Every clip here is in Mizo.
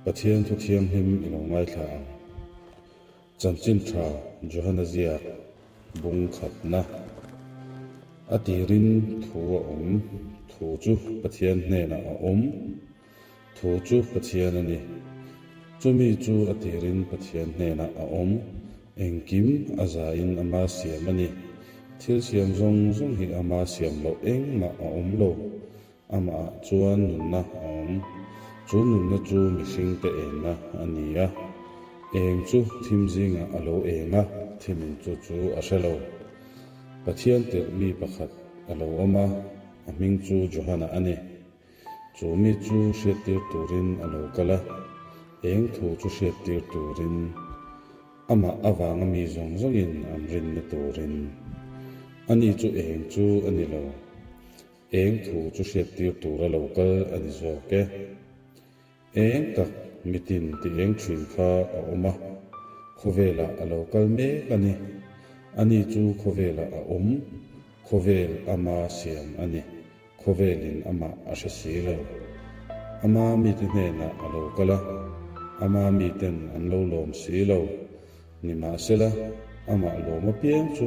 Pathian thu thianghlim i lo ngaithla ang. Chanchin tha Johanna ziak bung thatna a tir in thu a awm, thu chu Pathian hnenah a awm, thu chu Pathian a ni. Chumi chu a tir in Pathian hnenah a awm, engkim a za in a ma siam a ni. Thil siam zawng zawng hi a ma siam loh engmah a awm lo. Amah chuan nunna a awm. Chu nunna chu mihring te enna a ni a. Eng chu thim zingah a lo eng a, thim in chu chu a hre lo. Pathian tirh mi pakhat a lo awm a, a hming chu Johana a ni. Chu mi chu hriattir turin a lo kal a, eng thu chu hriattir turin, amah avanga mi zawng zawngin an rinna turin. Ani chu eng chu a ni lo. Eng thu chu hriattir tur a lo kal a ni zawk e. Eng tak mitin ti eng thin kha a awm a, khawvelah a lo kal mek a ni. Ani chu khawvelah a awm, khawvel ama siam a ni, khawvelin amah a hre si lo. Ama mite hnenah a lo kal a, ama miten an lo lawm si lo. Nimahsela, amah lawm apiang chu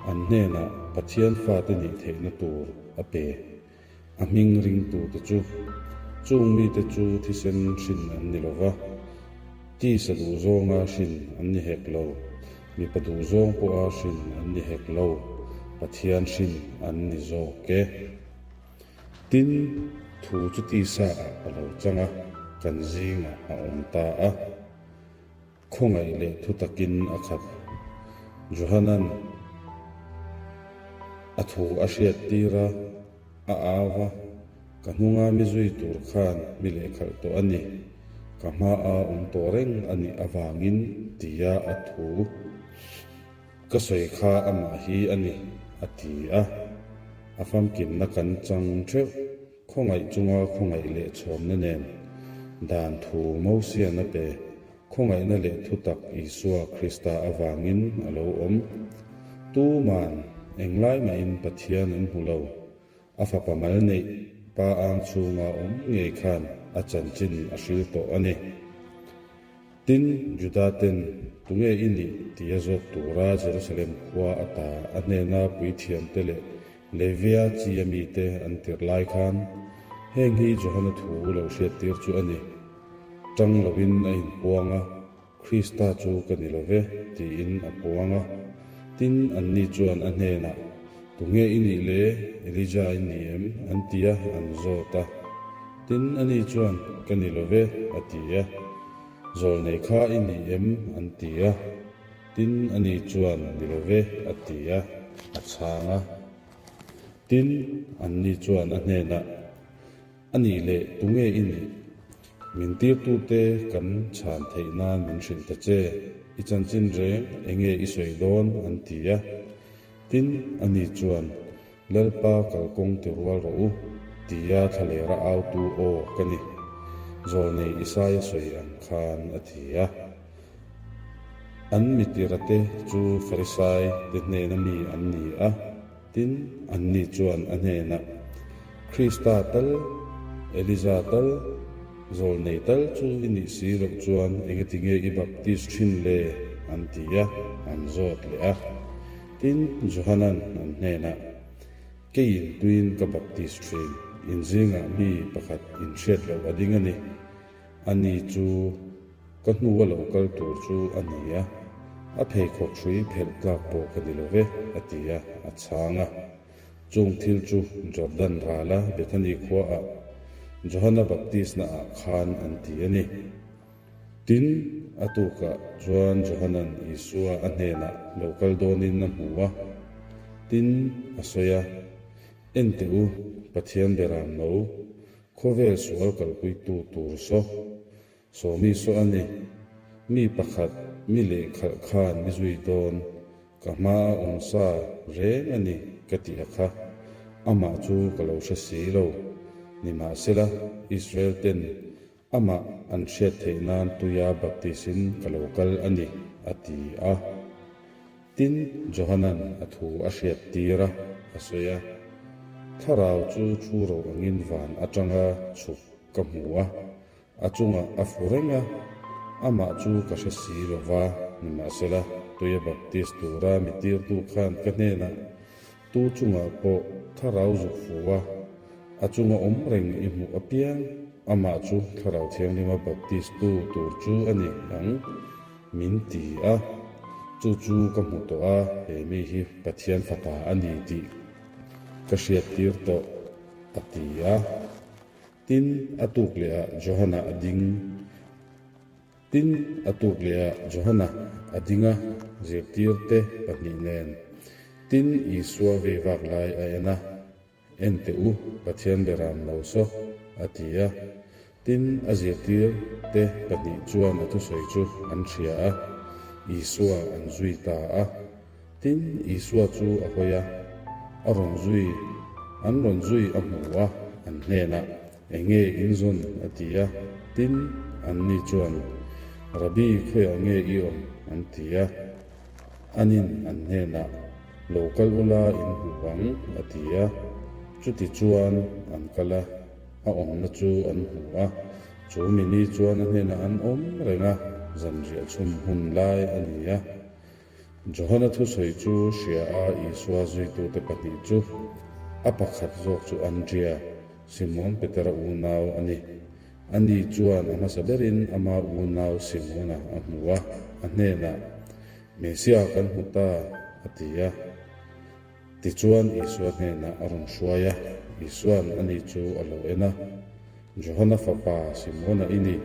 an hnenah Pathian fate nih theihna tur a pe. A hming ringtute chu chung mite chu thisen hrin an ni lo va, tisa duh zawnga hrin an ni hek lo, mipa duh zawng pawha hrin an ni hek lo, Pathian hrin an ni zawk e. Tin, thu chu tisa ah a lo chang a, kan zingah a awm ta a. Khawngaih leh thu takin a khat. Johanan a thu a hriat tir a, a au a, Ka hnunga mi zui tur khan mi lehkhalh tawh a ni. Ka hmaa awm tawh reng a nih avangin tia a thu. Ka sawi kha amah hi a ni, a ti a. A famkimna kan chang theuh. Khawngaih chunga khawngaih leh chhawmna nen dan thu Mosiana pe khawngaihna leh thutak Isua Krista avangin a lo awm. Tuman, eng lai mahin Pathian an hmu lo. A fapa mal neih, pa ang chhunga awm ngei khan a chanchin a hrilh tawh a ni. Tin, Juda ten, Tunge i nih? tih a zawt tura Jerusalem khua a ta. A hnena puithiamte leh Levia chia mite an tirh lai khan, Heng hi Johana thu lo hriattir chu a ni. Ṭang loin a inpuang a, Krista chu ka ni lo ve, tiin a puang a. Tin, anni chuan a hnenah, Tunge i nih le? Elijah i ni em? an ti a, an zawt a. Tin, ani chuan, Ka ni lo ve, a ti a, Zawr nei kha i ni em? an ti a. Tin, ani chuan, Ni lo ve, a ti a, a chhang a. Tin, anni chuan a hnenah, A nih leh, tunge i nih? Min tirtute kan chhan theih nan min hrilh ta che, i chanchin reng, enge i sawi dawn? an ti a. Tin, ani chuan, Lalpa kalkawng ti rual rawh u ti a thla ler a autu aw ka ni. Zawh nei Isaya sawi ang khan a ti a. An mitira te chu Farisai te hnena mi an ni a, tin anni chuan a hnenah, Krista tal, Elija tal, zawl nei tal chu i nih si loh chuan enge tinge i baptist thin le? an ti a, an zawt leh a. Tin, Johanan an hnenah, Kei in tuin ka baptist thin, in zingah mi pakhat in hriat loh a ding a ni. Ani chu ka hnu a lo kal tur chu a ni a, a pheikhawk hrui phelh tlak pawh ka ni love, a ti a, a chhang a. Chung thil chu Jordan rala Bethany khuaah Johana Baptistna ah khan an ti a ni. Tin, a tukah chuan Johanan Isua a hnenah lo kal dawnin a hmu a, tin a sawi a, Ente u, Pathian beram no, khawvel sual kalpuitu tur saw, sawmi saw a ni, mi pakhat mi leh khalh khan mi zui dawn, ka hma a awm sa reng a ni ka tih a kha. Amah chu ka lo hre si lo, nimahsela, Israel ten Amah an hriat theih nan tuia baptisin ka lo kal a ni, a ti a. Tin, Johanan a thu a hriat tir a, a sawi a, Thlarau chu thu ro angin van atanga chhuk ka hmu a, a chungah a fu reng a. Amah chu ka hre si lo va, nimahsela, tuia baptis tura mi tirtu khan ka hnenah Tu chungah pawh thlarau zuk fu a, a chunga awm reng i hmuh apiang. Amah chu Thlarau Thianglima baptist tu tur chu a ni ang min ti a, chu chu ka hmu tawh a, he mi hi Pathian fapa a ni tih ka hriattir tawh, a ti a. Tin, a tuk leh ah Johanna a ding Tin, a tuk lehah Johana a dinga zirtirte pahnih nen, Tin, Isua vei vak lai a en a, en teh u, Pathian be ram lo saw, a ti a. Tin, a zirtirte pahnih chuan a thusawi chu an hria a, Isua an zui ta a. Tin, Isua chu a hawi a, a rawn zui, an rawn zui a hmu a an hnenah. Enge in zawn? a ti a, tin, anni chuan, Rabbi, khawiah nge i awm? an ti a. Anin an hnenah, Lo kal u la in hmuh ang, a ti a. Chutichuan an kal a, a awmna chu an hmu a, chu mi ni chuan a hnenah an awm reng a, zanriah chhum hun lai a ni a. Johana thusawi chu hria a, Isua zuitute pahnih chu a pakhat zawk chu Andria, Simon Petera unau a ni. Ani chuan a hmasa berin ama unau Simona a hmu a, a hnenah, Messia kan hmu ta, a ti a. Tichuan Isua hnenah a rawn hruai a, Isua'n a ni chu a lo en a, Johana fapa Simona i ni,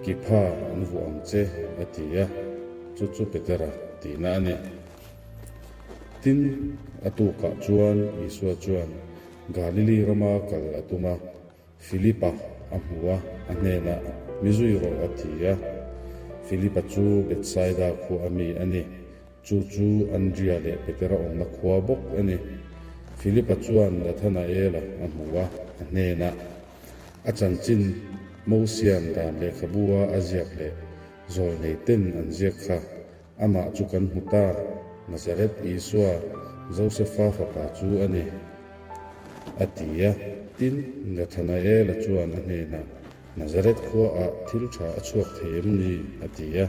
kipha an vuah ang che, a ti a, chu chu Petera tihna a ni. Tin, a tukah chuan Isua chuan Galili rama kal a tum a, Filipa a hmu a, a hnenah, Mi zui rawh, a ti a. Filipa chu Betsaida khua a mi a ni. Chu chu Andria leh Petera awmna khua bawk a ni. Filipa chuan Nathanaela a hmu a, a hnenah, A chanchin Mosian dan lehkhabua a ziak leh zawlngeih ten an ziak kha Amah chu kan hmu ta, Nazareth Isua, Joseph-a fapa chu a ni, a ti a. Tin, Nathanael-a chuan a hnenah, Nazareth khuaah thil tha a chhuak thei em ni? a ti a.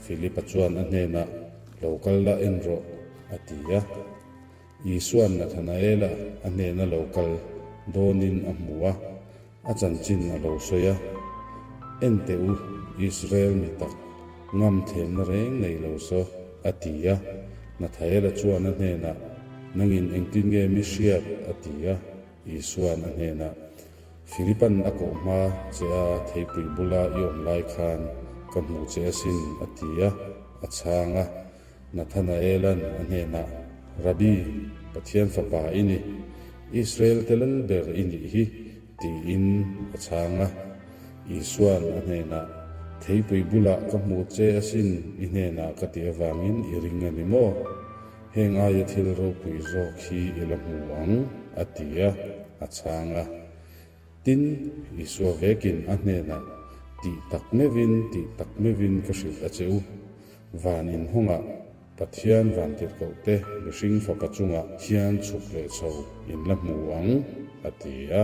Philip-a chuan a hnenah, Lo kal lah en rawh, a ti a. Isua'n Nathanael-a a hnena lo kal dawnin a hmu a, A chanchin a lo sawi a, Enteh u, Israel mi tak, ngam thlenna reng nei lo saw, a ti a. Nathael a chuan a hnenah, Nangin engtin nge mi hriat? a ti a. Isua'n a hnenah, Philipa'n a kawh hma che a theipui bula i awm lai khan ka hmuh che asin, a ti a, a chhang a. Nathanaelan a hnenah, Rabi, Pathian Fapa i ni, Israel telal ber i nih hi, tiin a chhang a. Isuan a hnenah, Theipui bulah ka hmuh che asin i hnenah ka tih avangin i ring a ni maw? Heng aia thil ropui zawk hi i la hmu ang, a ti a, a chhang a. Tin, Isua vekin a hnenah tih tak meuhin, tih tak meuhin ka hrilh a che u. Van inhawngah Pathian vantirhkohte mihring fapa chungah hian chhuk leh chho in la hmu ang, a ti a.